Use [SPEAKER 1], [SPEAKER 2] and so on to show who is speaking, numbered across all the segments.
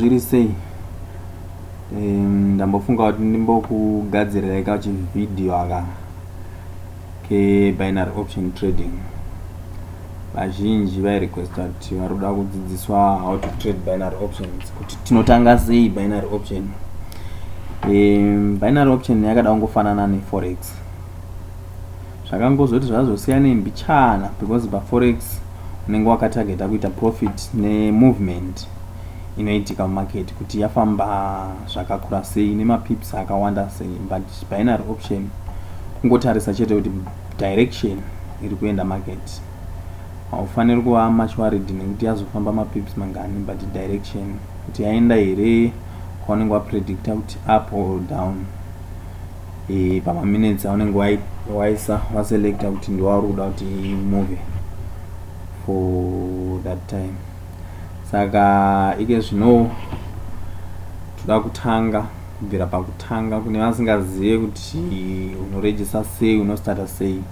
[SPEAKER 1] zviri sei ndambofunga kuti ndimbokugadzirirai ka chivhidhiyo aka kebinary option trading vazhinji vairequesta kuti vari kuda kudzidziswa how to trade binary options kuti tinotanga sei binary option um, binary option yakada kungofanana neforex Zvakangozoti zvazosiyane mbichana because paforex unenge wakatargeta kuita profit nemovement inoitika mumarket kuti yafamba zvakakura sei nemapips akawanda sei but binary option kungotarisa chete kuti direction iri kuenda market haufaniri kuva much worried nekuti yazofamba mapips mangani but direction kuti yaenda here kwaunenge wapredicta kuti up or down e, pamaminutes aunenge waisa waselecta kuti ndiwauri kuda kuti move for that time saka ike zvino toda kutanga kubvira pakutanga kune vasingazive kuti unoregista sei unostarta sei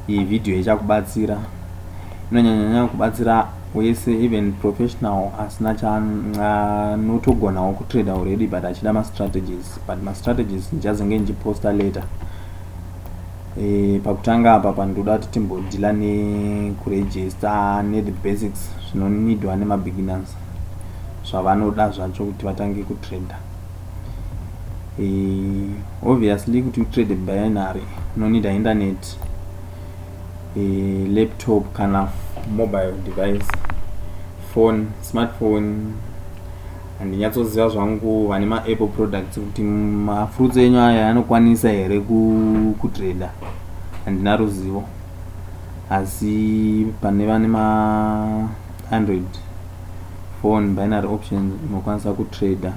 [SPEAKER 1] iyi vhidhiyo ichakubatsira inonyanyanyanya kubatsira wese even professional asina chaanotogona wokutrader already but achida mastrategies but ma strategies ndichazenge ndichiposta later e, pakutanga apa pandoda kuti timbodhila nekuregister nethe basics zvinonidwa nemabeginners zvavanoda zvacho kuti vatange kutrader e, obviously kuti utrade binary unonida internet e, laptop kana mobile device phone smartphone handinyatsoziva zvangu vane maapple products kuti mafruits enyu aya anokwanisa here kutreda handina ruzivo asi pane vane maandroid phone binary option unokwanisa kutrader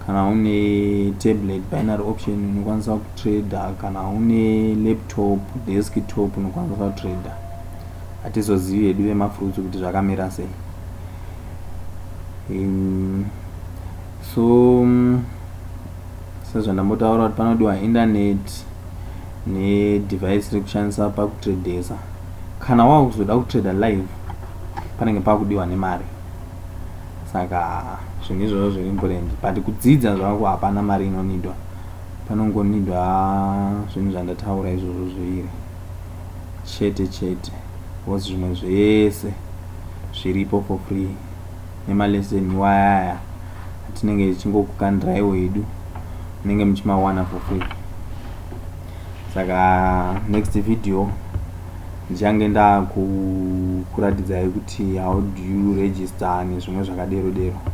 [SPEAKER 1] kana une tablet binary option unokwanisa kutrader kana une laptop desktop unokwanisa kutrader hatizozivi hedu vemafruits kuti zvakamira sei um, so um, sezvandambotaura kuti panodiwa internet nedevice rekushandisa pakutradesa kana wava kuzoda kutrader live panenge pakudiwa nemari saka zvinhu izvozvo zviri important but kudzidza zvako hapana mari inonidwa panongonidwa zvinhu zvandataura izvozvo zviviri chete chete was zvimwe zvese zviripo for free nema lesson iwaya aya atinenge tichingokukandiraiwo hedu munenge muchimawana for free saka next video ndichange ndakuratidzai kuti how do you register nezvimwe zvakadero dero, dero.